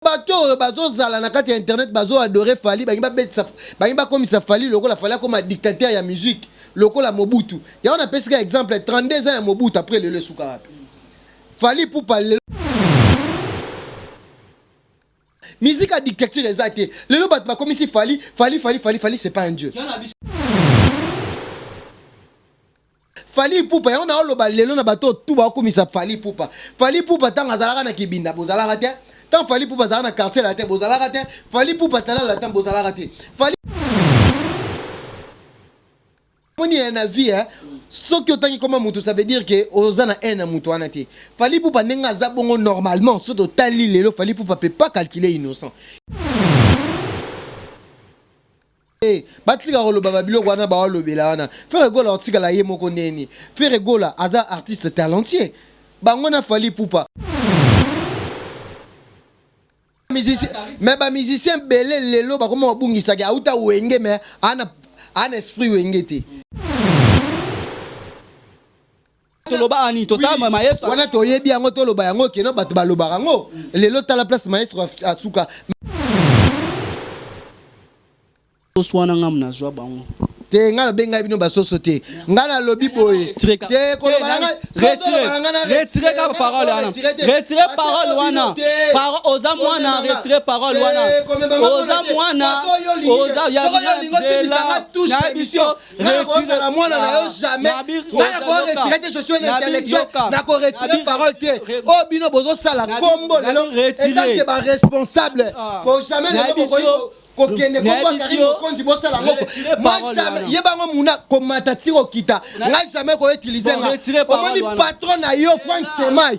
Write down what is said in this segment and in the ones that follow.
Bato oyo bazo zala na kati ya internet bazo adore Fally balingi ba betisa balingi ba komisa Fally lokola Fally akoma dictateur ya musique lokola Mobutu yango na pesi ka exemple 32 ans ya Mobutu après lelo esuka wapi Fally Ipupa lelo musique ya dictature eza te lelo bato bakomisi Fally Fally Fally Fally Fally c'est pas un dieu Fally Ipupa yango na oloba lelo na bato tout ba kumisa Fally Ipupa. Fally Ipupa tango azalaka na kibinda bozalaka te. Tango Fally Ipupa azalaka na quartier latin bozalaka te. Fally Ipupa talent latin bozalaka te. Fally Omoni eh na vie eh soki otangi koma mutu ça veut dire que oza na haine ya mutu wana te. Fally Ipupa ndenge aza bongo normalement soki totali lelo Fally Ipupa peut pas calculer innocent. Te batika koloba ba biloko wana ba lobela wana ferre gola akotikala ye moko ndenge nini ferre gola aza artiste talentier bango na fally ipupa mais ba musicien ebele lelo bakoma kobungisa ke awuta wenge mais aza na esprit wenge te. tolobaka nini tosala maestro wana toyebi yango toloba yango keno bato balobaka yango lelo tala place maestro asuka toswana ngamu nazwa bango te ngai nabengaki bino basoso te ngai nalobi boye te kolobala ngai kaka parole wana retire parole wana oza mwana retire parole wana oza mwana oza ya biso nakozala mwana na yo jamais ngai nakoya retire te je suis un intellectuel nako retire parole te oyo oh, bino bozosala kombo lelo etanke baresponsable ah. po jamais lelo bokoki kokende kokoakari mokonzi bosala moko ye bango muna komata ti kokita ngai jamais koutilize nga omoni patron na yo frank semai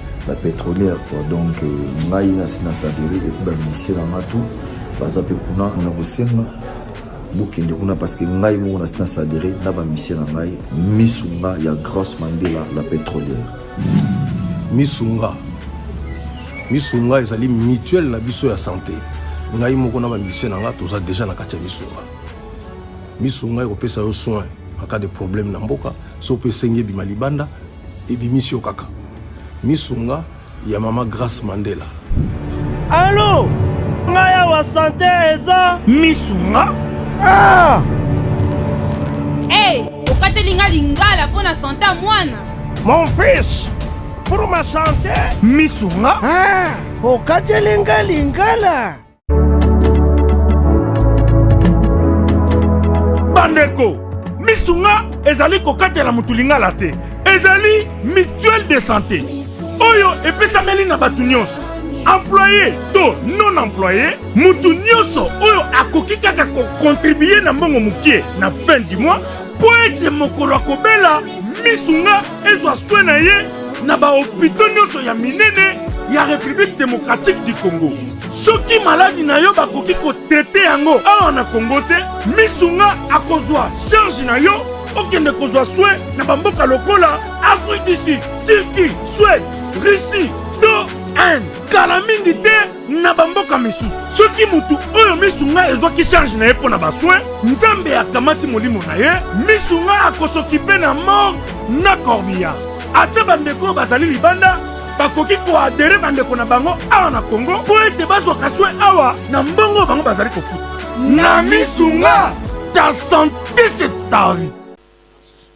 ba petrolière quoi donc euh, ngai nasi na saveri epuis bamusicien na nga tout baza mpe kuna na kosenga bokende kuna parce que ngai moko nasi na saveri na bamusicien na ngai misu nga ya grace mandela la petrolière misu nga misu nga ezali mutuelle na biso ya santé ngai moko na bambise na ngai toza deja na kati ya misunga misunga ekopesa yo soin aka de problème na mboka so mpe esengi ebima libanda ebimisi yo kaka misunga ya mama grace mandela alo ngai awa sante eza misunga ah! hey, okateli ngai lingala mpo na sante ya mwana mon fils pour ma sante misunga ah! okateli ngai lingala bandeko misu nga ezali kokatela motu lingala te ezali mutuelle de santé oyo epesameli na bato nyonso employe to non employe moto nyonso oyo akoki kaka kokontribue na mbongo mokie na fin du mois mpo ete mokolo akobela misu nga ezwa swe na ye na bahopito nyonso ya minene ya république démocratique du congo soki maladi na yo bakoki kotrete yango awa na kongo te misu nga akozwa charge na yo okende kozwa swe na bamboka lokola afrique du sud turquie swede russie to inde kala mingi te na bamboka misusu soki moto oyo misu ngai ezwaki charge na ye mpo na baswe nzambe akamati molimo na ye misu ngai akosokipe na morgue na corbillard ata bandeko oyo bazali libanda bakoki koadere bandeko na bango awa na Congo mpo ete bazwaka swe awa na mbongo bango bazali kofuta na misu nga ta sante se ta vie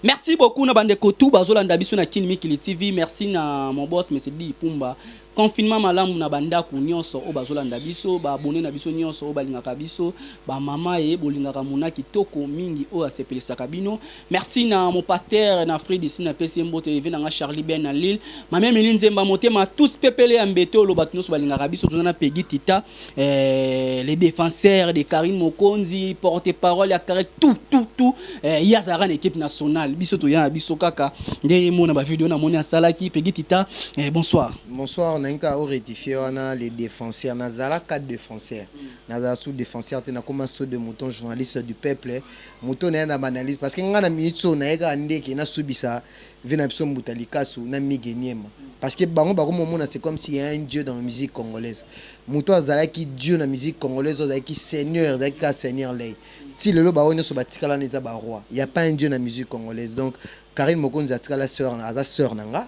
Merci beaucoup na bande kotou bazolanda biso na Kin Mikili TV. Merci na mon boss Monsieur Di Pumba. Confinement malamu na bandaku nyonso oyo bazolanda biso, ba abonné na biso nyonso oyo balingaka biso, ba mama ye bolingaka mona kitoko mingi oyo asepelisaka bino. Merci na mon pasteur na Fred ici na pesi mbote eve na nga Charlie Ben na Lille ma mère Mili Nzemba motema tous pepele ya mbete olo bato nyonso balingaka biso toza na Peggy Tita eh, les défenseurs de Karim Mokonzi porte parole ya Karim tout tout tout eh, ye azalaka na équipe nationale biso toya na biso kaka nde ye mona ba video na moni asalaki Peggy Tita eh, bonsoir bonsoir na nka o rectifier wana les défenseurs nazala quatre défenseurs nazala sous défenseur te nakoma saut de mouton journaliste du peuple Moto naye na ba analyse parce que nga na minutes oyo naye kaka nde ke nasubisa vie na biso mbuta likasu na migue niema parce que bango bakomi komona c'est comme s'il ya un dieu dans la musique congolaise moto oyo azalaki dieu na musique congolaise oyo azalaki seigneur ezalaki kaka seigneur ley ti lelo ba oyo nionso batikala wana eza ba roi il ya pas un dieu na musique congolaise donc carine mokonzi atikala soeur aza soeur na nga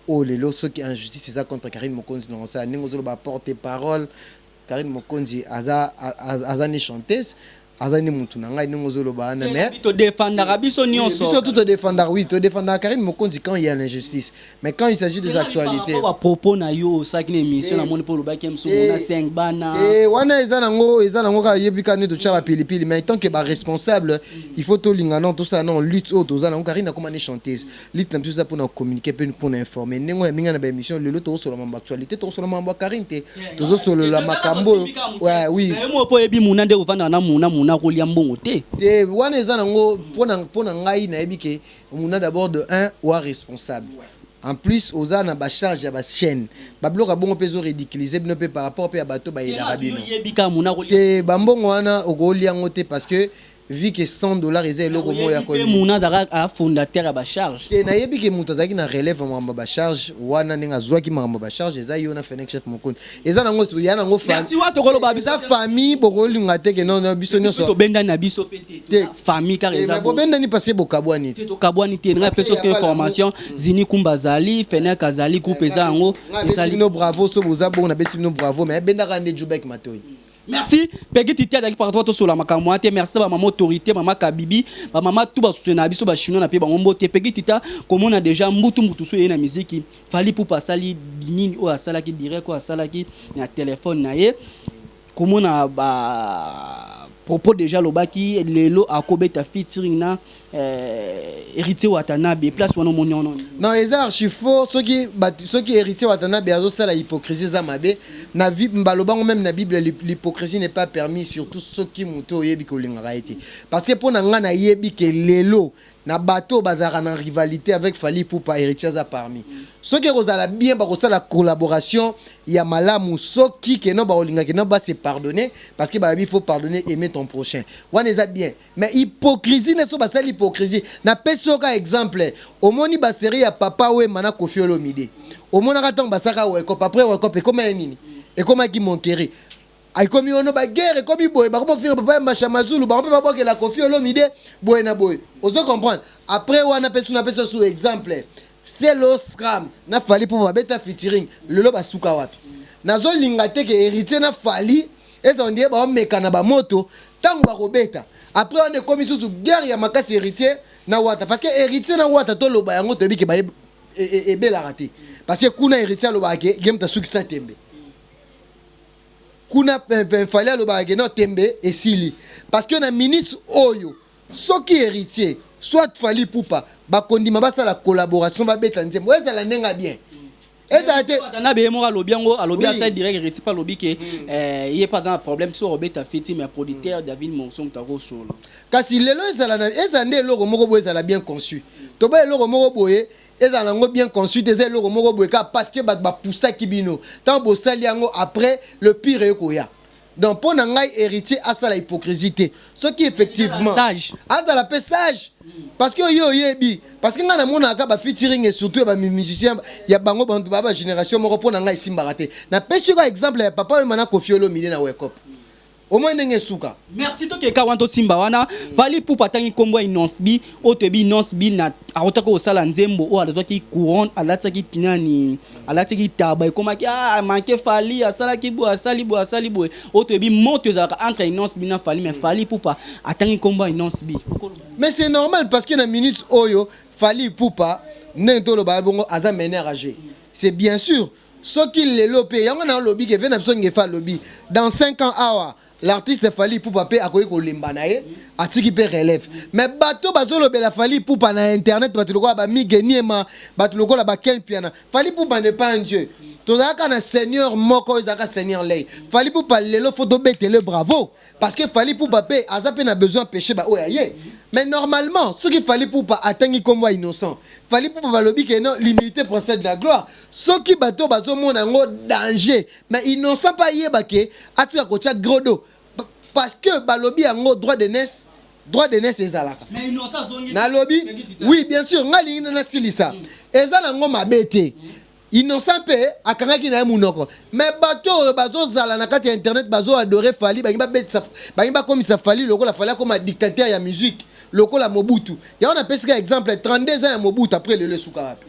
oyo lelo soki injustice eza contre carine mokonzi nakosala ndenge ozoloba porte parole Carine mokonzi aza aza ni chanteuse aza ni mutu na ngai ndenge ozo loba wana mais to defendaka biso nionso biso tout to defendaka oui to defendaka Carine Mokonzi quand il y a l'injustice mais quand il s'agit des actualités ba propos na yo osaki na émission na moni po lobaki ya misumu na 5 bana eh wana eza nango eza nango ka yebi ka nito tshaba pili pili mais tant que ba responsable il faut to linga non tout ça non lutte auto za nango Carine akoma ni chanteuse Lutte na biso eza pona ko communiquer pe pona informer ndenge oyo aminga na ba emission lelo toko solola mambo actualite toko solola mambo ya Carine te tozo solola makambo oyo ouais oui nayo moko po oyebi muna nde kovanda na muna muna kolia mbongo te te wana eza na ngo pona pona ngai nayebi ke muna d'abord de un oa responsable en plus oza na ba charge ya ba chaine ba biloko ya bongo pe ezo ridiculiser bino pe par rapport pe ya bato ba yelaka bino te ba mbongo wana okolia ngo te parce que Vie que 100 dollars eza eloko moko ya ko Oyebi te Muna azalaka a fondateur ya ba charge? Te nayebi ke mutu azalaki na releve ya makambo ya ba charge wana ndenge azuaki makambo ya ba charge eza yo na Fenech chef mokoni eza na ngo ya na ngo fa Ya siwa tokoloba biso eza famille bokolinga te ke non non biso Biso nioso tobendani na biso pe te Te. toza famille kaka Eh, eza mais bo- bobendani parce que bokabuani te te tokabwani te ngai pe soki ya bala- information zini kumba azali fenek azali groupe eza yango Nga abeti ezali bino bravo so boza bongo nabeti bino bravo mais abendaka nde jubek matoi Merci Peggy Titi azalaki partout tosola makambo wana te merci ba mama autorité mama Kabibi ba mama tout ba soutena biso ba chinois na pe bango mbote Peggy Tita komona déjà mbutu mbutu so ye na miziki Fally Ipupa asali nini oyo asalaki direct oyo asalaki na telefone na ye komona ba propos déjà alobaki lelo akobeta featuring na Eh, Heritier Watanabe, place wana omoni yango nini? Non, eza archi faux soki batu soki Heritier Watanabe azo sala hypocrisie eza mabe. Na vie baloba ngo meme na Bible l'hy- l'hypocrisie n'est pas permis surtout soki mutu oyebi ke olingaka ye te. Parce que pona nga na yebi ke lelo na bato oyo bazalaka na rivalite avec Fally Ipupa Heritier aza parmi. Soki ekozala bien bakosala collaboration ya malamu soki keno bakolinga keno ba se pardonner parce que bayebi faut pardonner aimer ton prochain. Wana eza bien. Mais hypocrisie nde soki basali hypocrisie na pesi yo ka exemple omoni ba serie ya papa wemba na koffi olomide omonaka tango basalaka werkop apres werkop ekoma ye nini ekomaki monkeri ekomi yono ba guerre ekomi boye bakoma ofinga papa ya masha mazulu bango pe babwakela koffi olomide boye na boye ozo comprendre apres wana pe suna pesi osu exemple selo scram na fally ipupa babeta featuring lelo basuka wapi nazolinga te ke heritier na fally Eza ondire bao mekana ba moto tangu bako beta après wana ekomi susu guerre ya makasi heritier na wata parce que heritier na wata to loba yango toyebi ke baye ebelaka te parce que kuna heritier alobaka ke ye moto asukisa tembe kuna fali alobaka ke no tembe esili parce que na minutes oyo soki heritier soit fali pupa bakondima basala collaboration babeta nzembo ezala ndenge bien ezala te na beye moko alobi yango alobi asali direct héritier mpe alobi ke hmm. eh, ye mpe aza na problème soki obeta feti mais producteur david morso moto akosolo kasi lelo ezala ezala nde eloko moko boye ezala bien conçu toba eloko moko boye ezala nango bien conçu te eza eloko moko boye kaka parce que bato bapusaki bino ntango bosali yango après le pire ekoya Donc pona ngai heritier asala hypocrisie te soki effectivement azala pe sage parce que yo oyebi parce que ngai namonaka kaka ba featuring et surtout ya ba musiciens ya bango bantu ba ba generation moko pona ngai esimbaka te na pesi ka exemple ya papa wemba na Koffi Olomide na Wake Up omoi ndenge esuka merci tokeka wana tosimba wana vali pupa atangi nkombo ya inonsbi oyo toyebi inonsbi na autaki kosala nzembo oyo azwaki couronne alatisaki nani Alati ki taba ekomaki ah a manque Fally asalaki boye asali boye asali boye oyo toyebi moto ezalaka entre Innos'B na Fally mais Fally Ipupa atangi kombo ya Innos'B. Mais c'est normal parce que na minutes oyo Fally Ipupa ndenge toloba ya bongo aza mener à jeu c'est bien sur soki lelo pe yango na lobi ke vie na biso ngefa alobi dans cinq ans awa ah, L'artiste Fally Ipupa pe akoki kolemba na ye, atiki pe relève. Mais bato bazolobela Fally Ipupa na internet, bato lokola ba Migue Niema, bato lokola ba Ken Mpiana, Fally Ipupa n'est pas un Dieu. Tozalaka kaka na Seigneur moko, oyo ezalaka Seigneur Lay. Fally Ipupa lelo faut tobetela ye bravo, parce que Fally Ipupa pe aza pe na besoin apecher ba oyo ya ye. Mais normalement, soki Fally Ipupa atangi kombo ya Innocent, Fally Ipupa balobi que non, l'humilite precede la gloire. Soki bato oyo bazomona yango danger, Mais innocent pe ayeba que atika kotia Grodo parce que balobi yango droit de naisse droit de naisse ezalaka nalobi oui bien sur nga lingi na nasilisa eza na ngo mabe te innocent pe akangaki na ye munoko mais bato oyo bazozala na kati ya internet bazo adore fali bangi babetisa bangi bakomisa fali lokola fali akoma dictateur ya musique lokola mobutu yango napesika exemple 32 ans ya mobutu après lelo esuka wapi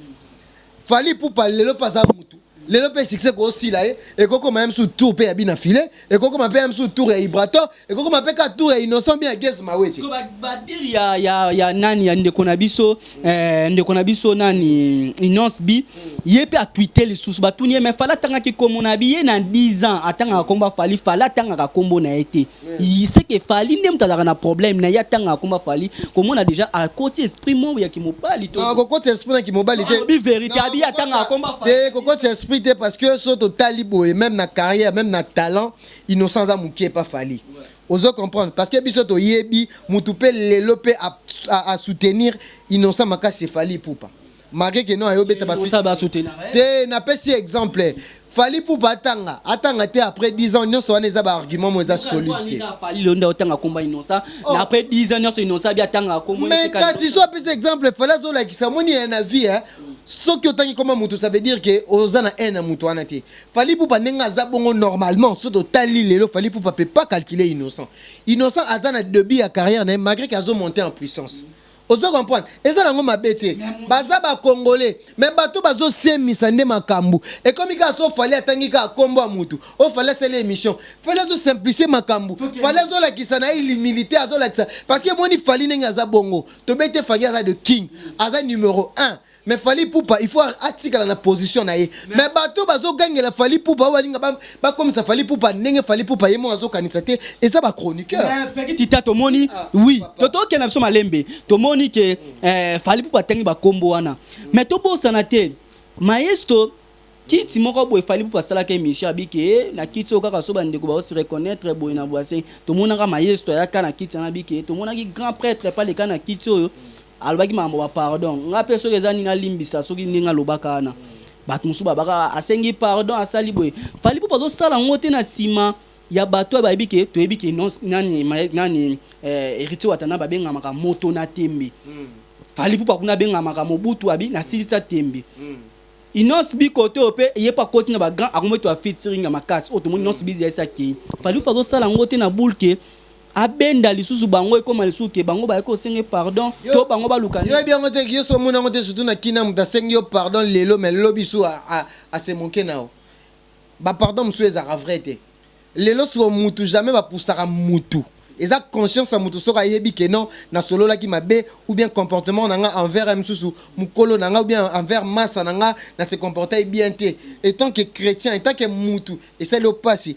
Fally Ipupa lelo mpe aza mutu lelo mpe succès koosila ye ekokoma ye mosusu tour mpe ya bina file ekokoma mpe ya mosusu tour ya ibrator ekokoma mpe ka tour ya innocent bien ya gez mawete badire ya, ya, ya nani ya ndeko na biso eh, ndeko na biso nani inonce bi ye mpe atwite lisusu batuni ye me fala atangaki nkombo na bi ye na 10 ans atangaka nkombo ya fali fala atangaka nkombo na ye te Il sait que Fally nde moto azalaka na problème na ye atanga akoma Fally komona déjà akoti esprit moko ya kimobali to kokotisa esprit na kimobali te alobi verité abi atanga akoma Fally te kokotisa esprit te parce que so totali boye même na carrière même na talent innocent aza mokie pa Fally ozo comprendre parce que biso toyebi mutu pe lelo pe a, a, a soutenir innocent makasi Fally Ipupa Marke keno ayo beta ba Mosala ba featuring. soutenaka ye. Te na pesi ye exemple. Fally Ipupa atanga, atanga te après 10 ans nionso wana eza ba arguments moko eza Yoka solide droit te. nini na Fally lelo nde otanga kombo ya Innocent Oh. na après 10 ans nionso Innocent abi atangaka kombo Mais etika kasi Innocent. so apesi exemple Fally azo lakisa omoni eh, na vie eh, soki otangi kombo ya mutu ça veut dire que oza na haine ya mutu wana te. Fally Ipupa ndenge aza bongo normalement soki totali lelo Fally Ipupa peut pas calculer Innocent. Innocent aza na debut ya carrière na ye malgré que azo monter en puissance. Ozo comprendre? Eza nango mabe te. Baza ba congolais mais bato bazo semisa nde makambu. Ekomi kaka soki Fally atangi kaka kombo ya mutu oh Fally asali emission. Fally azo simplifier makambu. Fally azo lakisa naye il humilite azo lakisa parce que emoni Fally ndenge aza bongo. Toyebi te Fally aza the king. Aza numero un. Mais Fally Ipupa il faut atikala na position na ye mais bato oyo bazo gangela Fally Ipupa oyo balinga ba bakomisa Fally Ipupa ndenge Fally Ipupa ye moko azo kanisa te eza ba chroniqueur. Mais petit tita tomoni Ah, oui papa. to tokende na biso malembe tomoni ke eh, Fally Ipupa atangi ba kombo wana mais tobosana te maestro kiti moko boye Fally Ipupa asalaka emission abiki eh, na kiti oyo kaka so bandeko baosi reconnaître boye na boise tomonaka maestro ayaka na kiti wana abiki eh, tomonaki grand prêtre epa leka na kiti oyo Alobaki makambo ba pardon nga pe soki eza nini alimbisa soki ndenge alobaka wana batu mususu ba baka asengi pardon asali boye fally ipupa azo sala ngo te na sima ya batu oyo bayebi ke toyebi ke non nani nani heritier watana ba bengamaka moto na tembe fally ipupa kuna abengamaka mobutu abi na silisa tembe Innos bi kote oyo pe ye pe akoti na ba grand akomi to ya featuring ya makasi oyo tomoni Innos biz ya SAKI fally ipupa azo sala ngo te na boule ke Abenda lisusu bango ekoma lisusu que bango bayaki kosenga ye pardon to bango baluka nini? Yo oyebi yango te yo soki omoni yango te surtout na kin na mutu asengi yo pardon lelo mais lobi su a se moquer na yo ba pardon mususu ezalaka vrai te lelo sur mutu jamais ba poussaka mutu eza conscience ya mutu soki ayebi que non na sololaki mabe ou bien comportement na nga envers ya misusu mukolo na nga ou bien envers masa na nga na se comporter bien te etant que chretien etant que mutu esali yo pasi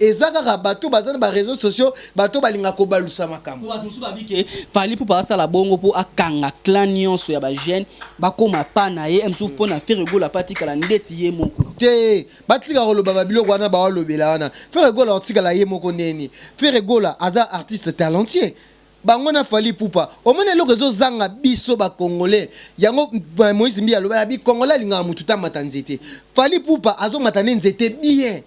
Eza kaka bato baza na ba reseaux sociaux bato balinga kobalusa makambo. Po bato mosusu babi ke Fally Ipupa asala bongo po akanga clan nionso ya ba jeunes bakoma pas na ye et mosusu pona Ferre Gola pe atikala ndeti ye moko. Te batika koloba ba biloko wana baolobela wana Ferre Gola akotikala ye moko ndenge nini? Ferre Gola aza artiste talentueux. Bango na Fally Ipupa omoni eloko ezo zanga biso ba congolais yango Moïse Mbiye aloba ya bi congolais alingaka mutu te amata nzete Fally Ipupa azo mata nde nzete bien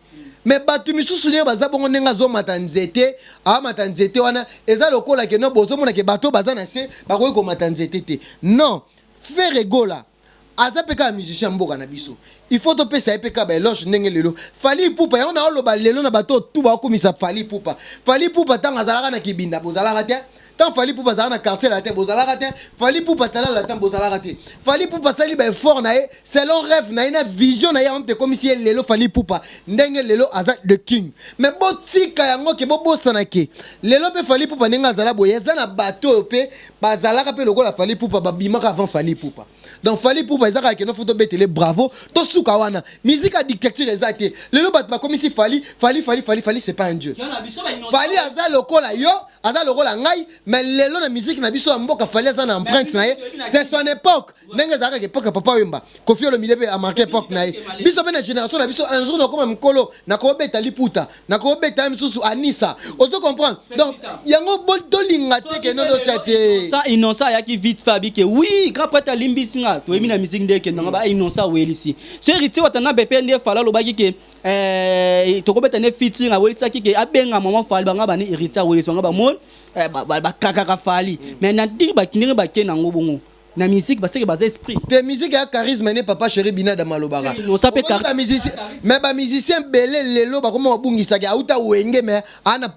mais batu misusu naye baza bongo ndenge azo mata nzete amata nzete wana eza lokola ke non bozo mona ke bato oyo baza na se bakoki komata nzete te non Ferre Gola Aza pe kaka musicien ya mboka na biso il faut to pesa ye pe kaka ba eloge ndenge lelo Fally Ipupa yango nazo loba lelo na bato oyo tout bazo kumisa Fally Ipupa Fally Ipupa tango azalaka na kibinda bozalaka te tango Fally Ipupa azalaka na quartier latin bozalaka te Fally Ipupa tala latin bozalaka te Fally Ipupa asali ba effort na ye selon reve na ye na vision na ye yango mutu ekomisi ye lelo Fally Ipupa ndenge lelo aza the king mais botika yango ke bobosana ke lelo pe Fally Ipupa ndenge azala boye aza na bato oyo pe bazalaka pe lokola Fally Ipupa babimaka avant Fally Ipupa donc Fally Ipupa eza kaka kende faut tobetele bravo tosuka wana musique ya dictature eza te lelo batu bakomisi Fally Fally Fally Fally Fally c'est pas un dieu Fally aza lokola yo aza lokola ngai mais lelo na musique na biso ya mboka Fally aza na empreinte na ye c'est son époque ndenge ezalaka ke époque ya Papa Wemba Koffi Olomide pe a marquer époque na ye biso pe na generation na biso un jour nakoma mukolo nakobeta liputa nakobeta ye misusu anisa ozo comprendre donc yango tolinga te ke nodo cha te sa innocent ayaki vite fait abike oui grand prêtre alimbisi nga toyebi na musique nde ekenda nga ba innocent awelisi so héritier watana bepe nde fala alobaki ke eh, tokobeta ne fiti awelisaki ke abenga mama fali banga bani héritier awelisi banga bamoni eh, bakakaka fali mais na ndenge bakendenge bake nango bongo na musique ba seke baza esprit te musique ya charisme ne papa chéri binada malobaka no ça peut charisme musicien mais ba musicien belé lelo ba koma bungisa ki auta wenge mais ana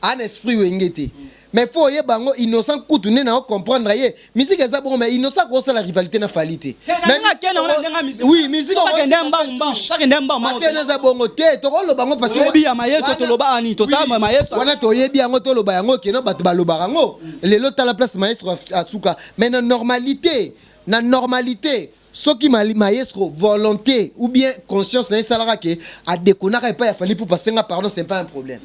ana esprit wenge te mais faut ye bango innocent kutu ne na comprendre ye musique eza bon mais innocent ko sala rivalité na fali te mais na kena wana ndenga musique oui musique ko kenda mbangu mbangu ça kenda mbangu parce que naza bongo te to ko loba ngo parce que yebi ya mayeso to loba ani to sa mayeso wana to yebi yango to loba yango keno bato ba loba yango lelo tala place maestro asuka Mais na normalite, na normalite soki maestro volonte ou bien conscience na esalaka ke a dekonaka epai ya Fally Ipupa senga pardon c'est pas un problème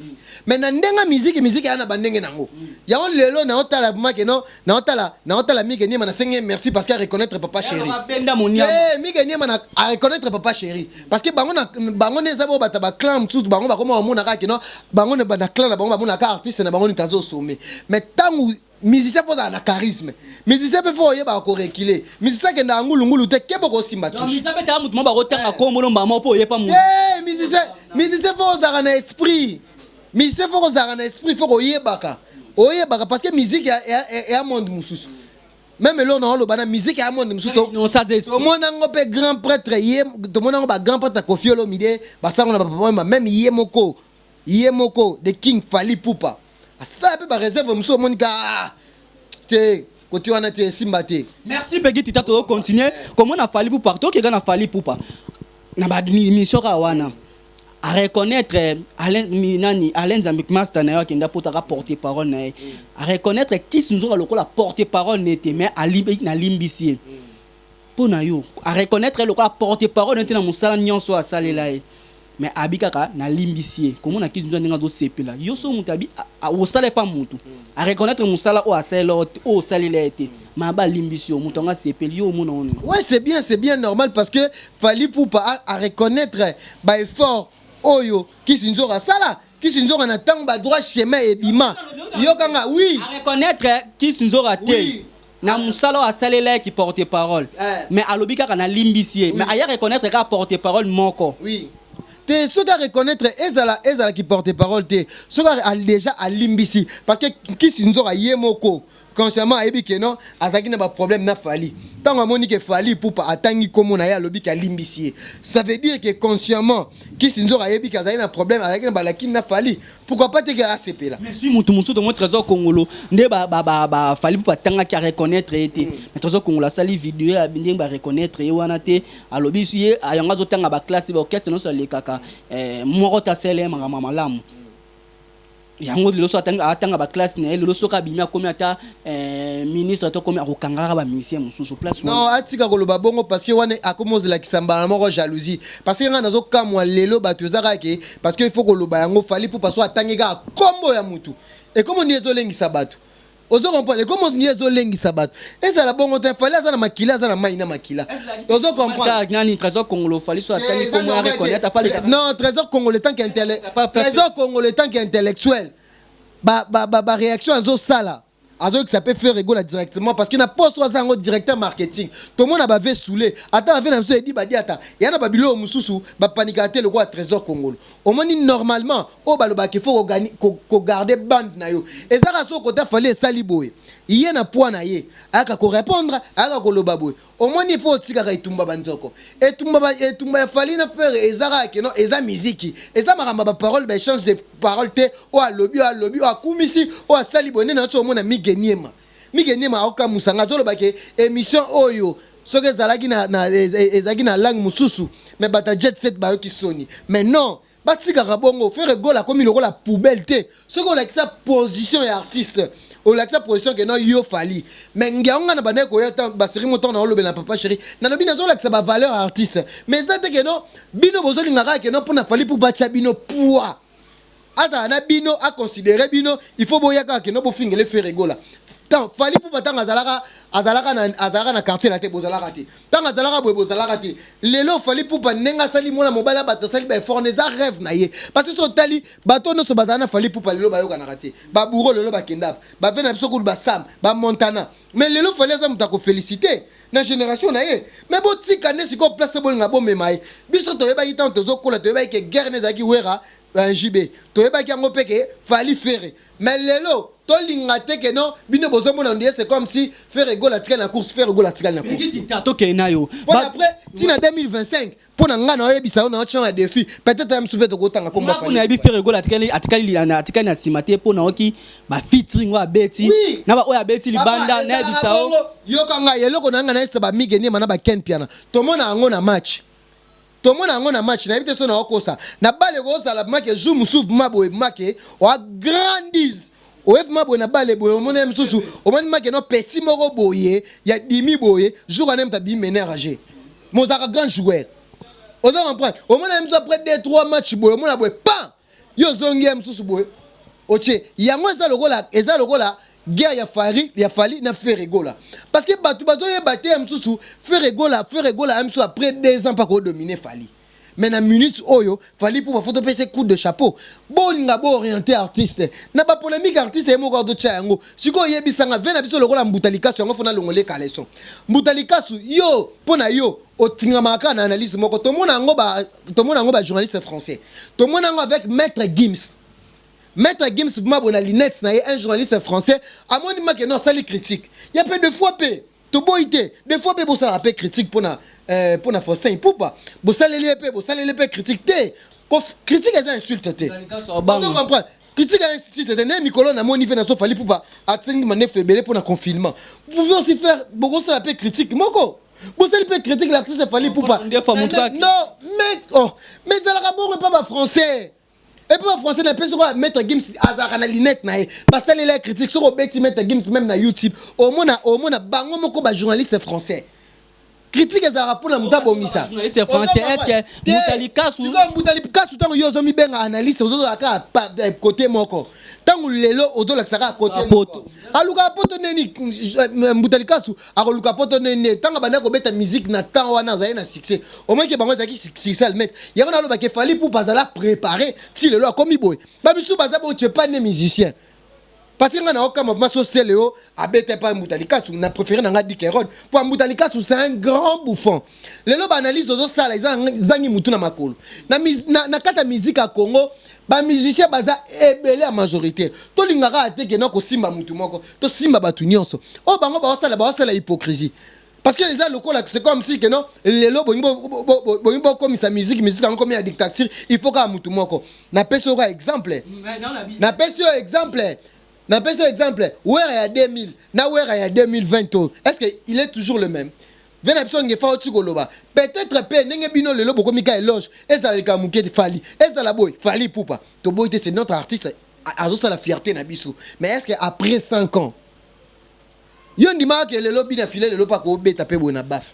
mais na ndenga miziki miziki ya na bandenge nango yango lelo na otala vraiment ke non na otala na otala Mike Niema na sengi merci parce que a reconnaître papa chéri eh Mike Niema na a reconnaître papa chéri parce que bango na bango ne zabo bata ba clan msusu bango bakoma omona ka ke non bango na clan na bango bamona ka artiste na bango ni tazo sommet mais tangu Musicien faut ozala na charisme. Musicien pe faut oyebaka ko reculer. Musicien akendaka ngulu ngulu te, keba oko simba touche. Donc musicien pe tala mutu moko bako tanga kombo no mbala moko po oye pa mutu. Te musicien, musicien faut ozalaka na esprit. Musicien faut kozalaka na esprit, faut koyebaka. Oyebaka parce que musique eya monde mususu. Meme eloko na oloba na musique eya monde mususu. Tomona yango pe grand pretre ye, tomona yango ba grand pretre Koffi Olomide, ba sango na ba papa wemba, meme ye moko Ye moko the king Fally Ipupa asala pe ba reserve mususu omoni ka aah te cote wana te esimba te. Merci Peguy Tita tozo continuer komona Fally Ipupa partout oke ka na Fally Ipupa na ba emission kaka wana a reconnaitre Alain nani Alain Nzambe masta nayo akende apota ka porte parole naye a reconnaitre Kiss Nzoka lokola porte parole naye te mais alimbisi ye. Mpo na yo, a reconnaitre ye lokola porte parole neti na mosala nionso oyo asalela ye. Mais abi kaka na limbisi ye. Komona Kizinzo ndenge azo sepela. Yo soki mutu abi osala epa mutu, a reconnaitre musala oyo asalela yo te, oyo osalela ye te, mais abi alimbisi yo, mutu yango asepeli. Yo omona yango nini? Ouais c'est bien, c'est bien normal parce que Fally Ipupa a a reconnaitre ba efforts oyo Kizinzora asala. Kizinzora na tango ba droit chemin ebima, yoka nga oui. A reconnaitre Kizinzora te. Oui. na musala oyo asalelaki porte parole mais alobi kaka na limbisi ye mais aya reconnaitre kaka porte parole moko te soki a reconnaitre ezala ezala ki porte parole te soki a dejà a limbisi parce que nkisi nzoka ye moko consciemment ayebi ke non azalaki na ba problème na fali ntango amoni ke fali ipupa atangi nkombo na ye alobi ke alimbisi ye ça veut dire ke consciemment kisi nzoka ayebi ke azalaki na problème azalaki na balakini na fali pourquoi pas teke asepela mais si mutu mosusu tomoni trésor kongolo nde bafali mpo batangaki areconnaitre ye te mais trésor kongolo asali video ya ndenge bareconnaitre ye wana te alobi ye yango azotanga baklasse baorchestre nyonso alekaka eh, moko te asala ye makambo ya malamu yango lelo so atanga baklasse na ye lelo soki abimi akomi ata Eh, ministre to komi akokanga kaka ba musiciens mususu place wana. Non, atika koloba bongo parce que wana akomi ozela kisambala na moko jalousie. Parce que nga nazo kamwa lelo batu eza kaka ke parce que il faut koloba yango fali pour parce que atangi kaka kombo ya mutu. Et comme on ezo lengisa batu. Ozo comprendre? Et comme on ezo lengisa batu. Ezala bongo te fali aza na makila aza na mai na makila. Ozo comprendre? Ata nani trésor congolo fali so atangi Eh, eza kombo ya normal te. reconnaître fali. Tre- Non, trésor congolais tant qu'intellect. Pas- pas- Trésor congolais tant qu'intellectuel. ba ba ba ba reaction azo sala azo yokisa pe ferre gola directement parce que na poste oyo aza yango directeur marketing tomona ba ve soule ata ba ve na biso edi badiata ya na ba biloko mususu ba panikaka te lokola tresor kongolo omoni normalement oyo balobaka ke faut ko ko garder bande na yo eza kaka soki kota fally esali boye ye na poids na ye ayaka ko repondre ayaka koloba boye Omoni faut otikaka etumba ba nzoko. Etumba ba etumba ya Fally na Ferre eza kaka que non eza miziki. Eza makambo ya ba paroles ba echange de paroles te oyo alobi oyo alobi oyo akumisi oyo asali boye nde nazo soki omona Migue Niema. Migue Niema azo kamusa nga azo loba que emission oyo soki ezalaki na na ezalaki na langue mususu mais bato ya Jet Set bayoki soni mais non Batikaka bongo ferre gola akomi lokola poubelle te soki olakisa position ya artiste olakisa position ke non yo fally mais ngiango nga na bandaki koya ta ba serie moto na olobela na papa chéri na lobi na zolakisa ba valeur artiste mais eza te ke non bino bozolinga kaka ke non pona fally pour batia bino poids azala na bino a considérer bino il faut boya kaka ke non bofingele ferre gola tant fally pour batanga azalaka azalaka na azalaka na quartier la te bozalaka te Tango azalaka boye bozalaka te lelo Fally Ipupa ndenge asali mwana mobali ya batu asali ba effort wana eza reve na ye parce que soki otali batu oyo nionso bazala na Fally Ipupa lelo bayokanaka te ba bouro lelo bakendaka ba vieux na biso kutu ba Sam ba Montana mais lelo Fally aza mutu ako felicite na generation na ye mais botika nde sikoyo place bolinga bomema ye biso toyebaki tango tozokola toyebaki ke guerre nde ezalaki Werra JB toyebaki yango pe ke Fally Ferre Mais lelo to linga te que non bino bozo mona ondire c'est comme si Ferre Gola atikali na course Ferre Gola atikali na course. Petit dictateur to kende nayo. Pona après ti na 2025 pona nga nayo yebisa yo nayo chant ya defi peut etre ya misusu pe toko tanga kombo ya Fally. Nga kuna yebi Ferre Gola atikali atikali na atikali na sima te pona oki ba featuring oyo abeti na ba oyo abeti libanda na yebisa yo. Yoka nga eloko na nga na yebisa ba Migue Niema na ba Ken Mpiana tomona yango na match. Tomona yango na match nayebi te soki nao kosa na balle eko zala bma ke jour mosusu bma boye bma ke oa grandiz oye bma boye na balle boye omoni ye mosusu omoni bma ke no petit moko boye ya dimi boye jour wana ye moto abimi mener ya jeu mais ozalaka grand joueur ozo comprendre omona ye mosusu après deux trois match boye omona boye pam Yo ozongi ya mususu boye otie yango eza lokola eza lokola guerre ya Fari ya Fali na Ferre Gola parce que batu bazo yeba te ya mususu Ferre Gola Ferre Gola ya mususu après 2 ans pa ko dominer Fali mais na minute oyo Fali pour ba photo pese coup de chapeau bolinga bo orienter artiste na ba polemique artiste ye moko azo tia yango siko yebisanga vena biso lokola mbuta likasu yango fona longole caleçon mbuta likasu yo pona yo otingamaka na analyse moko tomona yango ba tomona yango ba journaliste français tomona yango avec maître Gims maître Gims vraiment bona lunettes na ye un journaliste français amoni make non sali critique ya pe deux fois pe toboyi te deux fois pe bosala pe critique pona euh, pona Faustin Ipupa bosaleli pe bosaleli pe critique te ko critique eza insulte te donc comprendre critique ya institut te ne mikolo na moni pe na sofali Ipupa atingi mandefu ebele pona confinement vous pouvez aussi faire bokosala pe critique moko bosali mpe critique l'artiste fali pupa non mais oh mais ezalaka bongo epa ba français epa ba français na mpe soki maître gims azalaka na linete na ye basalela ya critique soki obeti maître gims meme na youtube omona omona bango moko ba journaliste français critique ezalaka mpona moto abongisa mbuta likasu ntango yo ozomibenga analyse ozozala kaka eh, kote moko ntango lelo ozolakisa kaka kote alukaka poto neni eh, mbuta likasu Akoluka poto nde nde tanga banda kobeta musique na temps wana azali na succès. Omaki ke bango ezalaki succès almet. Yango na loba ke Fally Ipupa azala prepare ti lelo akomi boye. Ba misusu baza bongo tu es pas ne musicien. Parce que nga na okamwa vraiment so Celeo abeta epa Mbuta Likasu na prefere na nga Dick Herode po Mbuta Likasu c'est un grand bouffon. Lelo ba analyse ozo sala eza ezangi mutu na makolo. Na na kata musique ya Congo Ba musiciens baza ebele ya majorite tolinga kaka te ke nako simba mutu moko to simba batu nionso oyo bango bao sala bao sala hypocrisie parce que eza lokola c'est comme si que non lelo bolingi bo bo bolingi bo komisa musique musique yango komi ya dictature il faut kaka mutu moko na pesi yo ka exemple na pesi yo exemple na pesi yo exemple wera ya 2000 na wera ya 2020 oyo est ce que il est toujours le même Vieux na biso Ngefa auti koloba peut etre pe ndenge bino lelo bokomi ka eloge ezala likambo muke te Fally ezala boye Fally Ipupa toboyi te c'est notre artiste azosala fierte na biso mais est ce que après 5 ans yo ondimaka ke lelo bina filet lelo pe akobeta pe boye na baf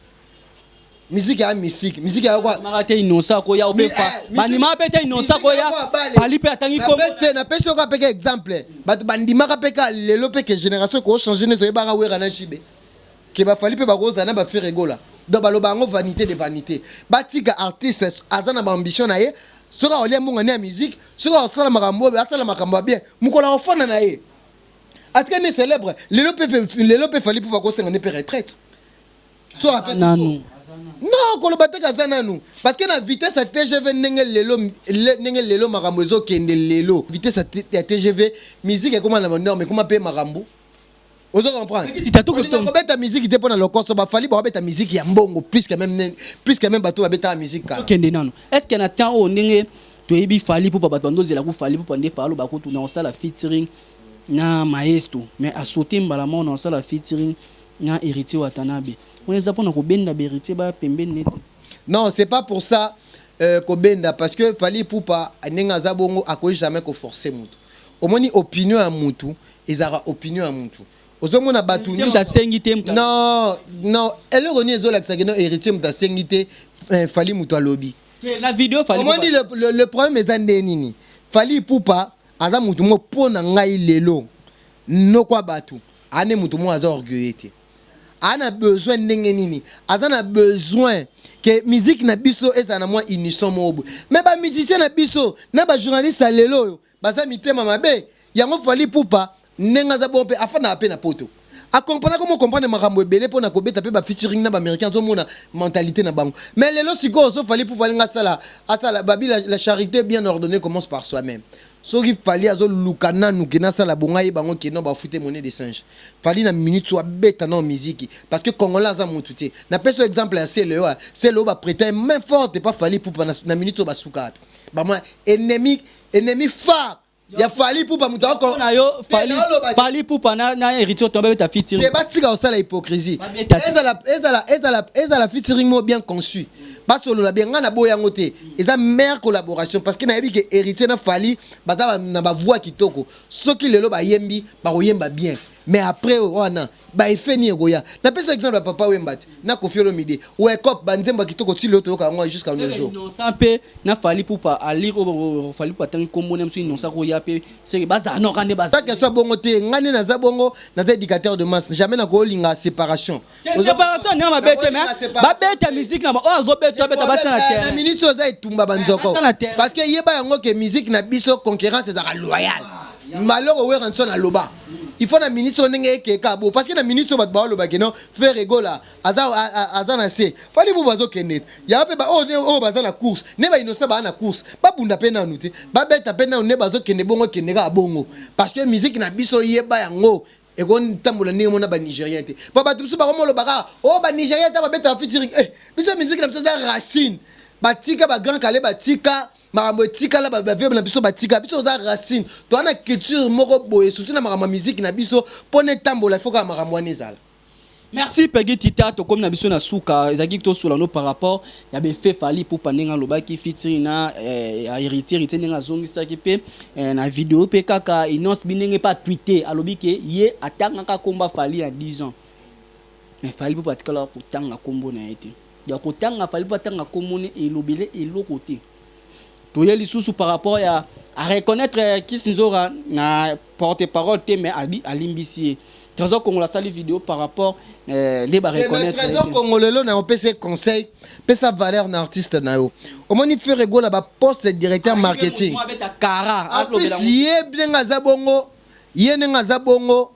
miziki ya misiki miziki ya kwa Ndimaka te innocent ko ya obe fa. Ba ndimaka pe te innocent ko ya Fally pe atangi kombo. na te na pesi yo ka pe ka exemple bato ba ndimaka pe ka lelo pe ke generation ko changer nde toyebaka Werra na JB Que ba Fally pe bako zala na ba Ferre Gola donc baloba yango vanite de vanite batika artiste aza na ba ambition na ye soki ako lia mbongo ne ya musique soki ako sala makambo oyo asala makambo ya bien mukolo ako fanda na ye atika ne celebre lelo pe lelo pe Fally poupa ko senga ne pe retraite soki apesi nanu non koloba te kaza nanu parce que na vitesse ya tgv ndenge lelo ndenge lelo makambo ezokende lelo vitesse ya tgv musique ekoma na banorme ekoma mpe makambo ozo comprendre kobeta miziki te mpo na lokoso bafali bakobeta miziki ya mbongo puisque meme puisque meme bato babetaka miziki kaka tokende nano est ce que na temps oyo ndenge toyebi fali mpo bato bando ozela ku fali mpo nde falo bakotuna osala featuring na maestro mais asote mbala moko na osala featuring na héritier watanabe wana eza mpo na kobenda baheritier ba pembeni nete non c'est pas pour ça euh, kobenda parce que fali pupa ndenge aza bongo akoki jamais koforce motu omoni opinion ya mutu Ezalaka opinion ya mutu. Ozo mona batu nionso. Heritier mutu asengi te mutu. Non non eloko nini ezo lakisa que non heritier mutu asengi te Fally mutu alobi. Te na video Fally. Omoni le le problème eza nde nini Fally Ipupa aza mutu moko pona ngai lelo noko ya batu aza nde mutu moko aza orgueilleux te. Aza na besoin ndenge nini aza na besoin que musique na biso ezala na mwa unison moko boye mais ba musiciens na biso na ba journalistes ya lelo oyo Baza mitema mabe yango Fally Ipupa ndenge aza bongo pe afandaka pe na poto a comprena komo comprendre makambu ebele pona kobeta pe ba featuring naba americain azo mona mentalite na bango mais lelo sikoyo so Fally Ipupa alingi asala asala babi la, la charite bien ordonnee commence par soi meme soki Fally azo luka nanu ke nasala bongo ayeba yango ke non ba fute monnaie de change Fally na minute oyo abeta nao miziki parce que congolais aza mutu te napesi yo exemple ya celeo ya celeo ba preta ye main forte epa Fally Ipupa na, na minute oyo basuka wapi ba mwa ennemi Ennemi phare ya Fally Ipupa moto ako Mpo na yo Fally Fally Ipupa na na Heritier Otomba beta featuring. te batika kosala hypocrisie Babeta te. ezala ezala ezala ezala featuring moko bien conçu basolola bien ngai naboya yango te eza meilleure collaboration parce que nayebi ke héritier na fali baza ba- na bavoix kitoko soki lelo bayembi bakoyemba bien mais après wana Ba effet nini ekoya? Na pesi yo exemple ya papa Wemba te na Koffi Olomide. Wecoop ba nzembo ya kitoko ti lelo toyoka yango jusqu'à nos jours. Innocent pe na Fally Ipupa alire oyo Fally Ipupa atangi kombo naye mususu Innocent ko ya pe ce que ba zala noko nde ba zali. Pas question bongo te nga nde naza bongo naza educateur de masse jamais na ko linga separation. Te separation nde mabe te mais ba beta musique na ba oyo azo beta abeta ba tia na terrain. Na minute oyo eza etumba ba nzoko parce que yeba yango que musique na biso conquerance ezalaka loyale. Malheur werrason aloba. il faut na minute oyo ndenge ekeka bo parce que na minute oyo bato baoloba ke non frère egola aza, aza na se fali bubu azokende te yango mpe baoyo oyo baza na course nde bainnosa baa na course babunda mpe nanu te babeta mpe nanu nde bazokende bongo kende kaka bongo parce que miziki na biso yeba yango ekotambola ndenge mona banigérien te mpo bato mosusu bakomoloba kaka o oh, banigérien ta babetaka fitiring eh, biso miziki na biso eza racine batika bagrand kale batika makambo etikala baveuve na biso batika biso toza racine toza na culture moko boye surtout na makambo ya miziki na biso mpona etambola ifo kaka makambo wana ezala Merci Peggy Tita, tokomi na biso na suka, ezalaki tosula no par rapport ya befe Fally Ipupa ndenge alobaki featuring na eh, ya Heritier Heritier ndenge azongisaki pe eh, na video pe kaka Innos bi ndenge pe atweete alobi ke ye atangaka komba Fally ya 10 ans mais Fally Ipupa atikala kotanga kombo na ye te. Donc kotanga fallait pas atanga kombo ne elobele eloko te. Toye lisusu par rapport ya a reconnaître Kissinzora na porte parole te mais abi alimbisi ye. Trésor Kongolo asali video par rapport euh, nde ba Eh, mais reconnaître. ye Trésor te. Kongolo lelo na opesa ye conseil, pesa valeur na artiste na yo. Omoni Ferre Gola ba poste directeur Ayebi marketing. mouvement abeta kara, En alobela plus ye ndenge aza bongo, ye ndenge aza bongo,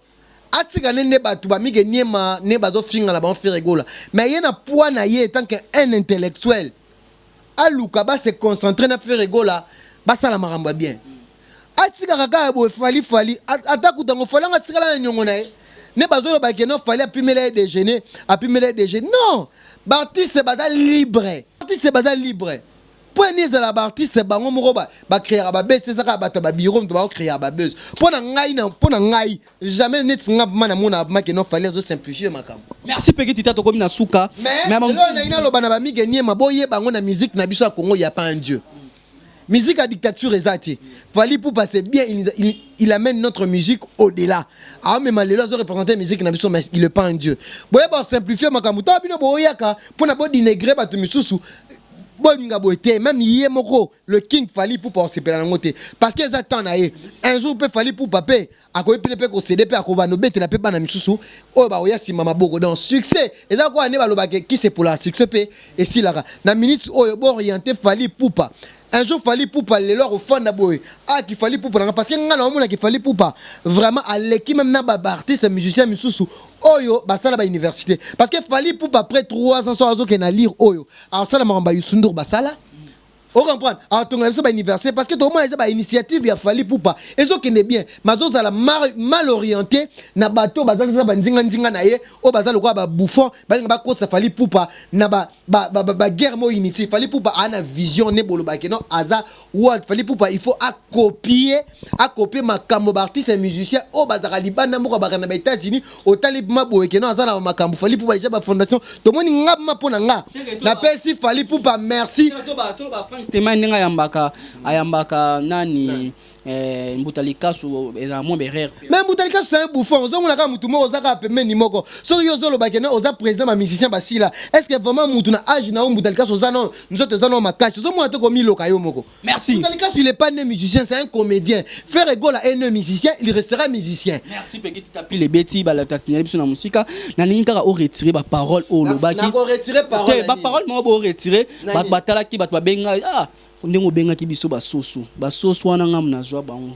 Atika ne nde batu ba mike niema ne bazo finga na bango ferre gola mais ye na poids na ye etant que un intellectuel aluka ba se concentrer na ferre gola basala makambo ya bien atikaka kaka boye fally fally ata kuta ngo fally anga tikala na niongo na ye ne bazo loba ke non fally apimela ye déjeuner apimela ye déjeuner non ba artistes baza libre artistes baza libre Mpo ya nini ezala ba artistes bango moko ba, ba creaka ba buzz te, eza kaka bato ya ba bureaux moto bao creaka ba buzz. Mpo na ngai, na, mpo na ngai, jamais neti nga vraiment namona vraiment que non Fally azo simplifier makambo. Merci Peggy Tita tokomi na suka. Mais, Mais eloko ba- nalingi naloba na ba Migue Niema, boyeba yango na musique na biso ya Congo, il y a pas un Dieu. Musique ya dictature eza te. Fally Ipupa c'est bien, il, nous a- il, il amène notre musique au-delà. Aomema lelo azo représenter musique na biso, mais il est pas un Dieu. Boyeba simplifier makambo. Tango bino boyaka mpo na bo denigrer bato misusu, bolinga boye te meme ye moko le king fali pupa osepela nango te parce que eza temps na ye un jour mpe fali pupa mpe akoki pine mpe kosede mpe akobanda obetela mpe bana misusu oyo bakoya nsima maboko donc succès eza koya nde balobaka kisepolaka succès mpe esilaka na minute oyo booriente fali pupa un jour fali pupa lelo akofanda boye aki fali pupa nanga parce que ngai naomonaki fali pupa vraiment aleki meme na baartiste musicien misusu oyo basala bauniversité parce que fali pupa après 3 ans so azokende na lire oyo Asala makambo ba Youssou N'Dour basala. O comprendre? Atongela biso ba université parce que tokomona eza ba initiative ya Fally Ipupa ezokende bien mais azozala mal, mal oriente na bato oyo baza ba nzinga nzinga na ye oyo baza lokola ba bouffon balinga bakotisa Fally Ipupa na ba, ba, ba, ba, ba guerre moko inutile. Fally Ipupa aa na vision ne bolobake non aza Wa Fally Ipupa il faut a copier a copier makambo ba artistes et musiciens oyo bazalaka libanda mboka baka na ba Etats-Unis otali ma boye que non aza na makambo Fally Ipupa dejà ba fondation tomoni nga ma pona nga na pesi Fally Ipupa merci toloba Frank Stemay ndenge ayambaka ayambaka nani eh, Mbuta Likasu ezala mwa berere mpe mais Mbuta Likasu c'est un bouffon ozomona kaka mutu moko oza kaka pembeni moko soki yo ozoloba que non oza président ba musiciens basila est-ce que vraiment mutu na âge na yo Mbuta Likasu oza non Nzoto eza no makasi, ozo mona te komiloka yo moko. Merci. Mbuta Likasu il est pas né musicien, c'est un comédien. Ferre Gola est né musicien, il restera musicien. Merci Peggy Tita pile ebeti ba lata signaler biso na musika. Na lingi kaka o retirer ba paroles o lobaki. Na ko retirer parole. Te ba paroles mo bo retirer ba batalaki ba ba benga ah ndenge obengaki biso ba soso. Ba soso wana ngamu na zwa bango.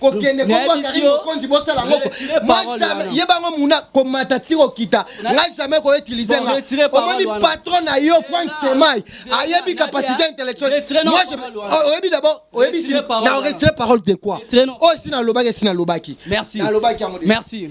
kokende kombo ya Karine Mokonzi bosala ngoko moi jamais ye bango muna komata ti kokita nga jamais ko utiliser nga omoni patron na yo Frank Stemay ayebi capacité intellectuelle moi je oh, oyebi d'abord oyebi si na retire parole de quoi oyo oh, si na lobaki si na lobaki merci na lobaki merci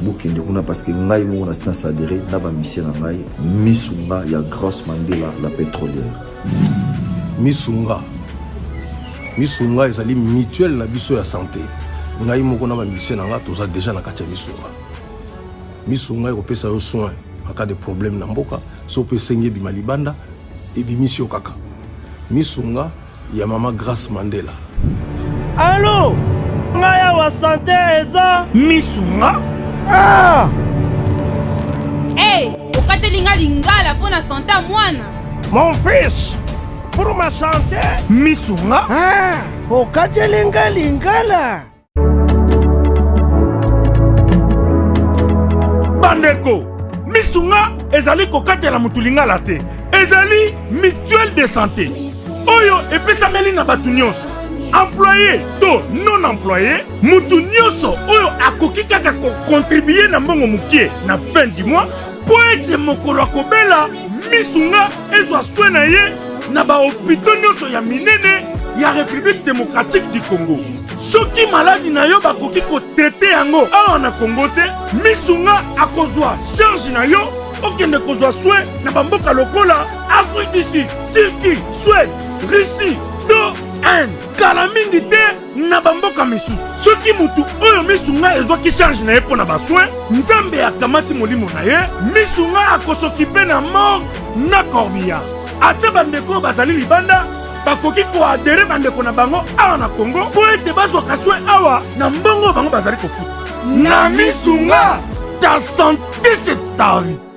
bokende kuna parce que ngai moko na sina sadere na bamisie na ngai misunga ya grace mandela la pétrolière misunga misunga ezali mutuelle na biso ya santé ngai moko na bamisie na ngai toza déjà na kati ya misunga misunga ekopesa yo soin en cas de problème na mboka so mpe esengi ebima libanda ebimisi yo kaka misunga ya mama Grace Mandela. Allô nga ya wa santé eza misu nga ah hey, okateli nga lingala mpo na sante mwana mon fils pour ma santé misu nga ah, okateli nga lingala bandeko misu nga ezali kokatela motu lingala te ezali mutuelle de santé oyo epesameli na bato nyonso employe to non employe moto nyonso oyo akoki kaka kokontribue na mbongo mokie na fin du mois mpo ete mokolo akobela misu nga ezwa swe na ye na bahopito nyonso ya minene ya république démocratique du congo soki maladi na yo bakoki kotrete yango awa na kongo te misu nga akozwa charge na yo okende kozwa swe na bamboka lokola afrique du sud turquie swede russie to inde kala mingi te na bamboka misusu soki motu oyo misu ngai ezwaki charge na ye mpo na baswe nzambe akamati molimo na ye misu ngai akosokipe na morgue na corbillard ata bandeko oyo bazali libanda bakoki ko adere bandeko na bango awa na Congo mpo ete bazwaka soin awa na mbongo oyo bango bazali kofuta. Na misu nga ta sante c'est ta vie.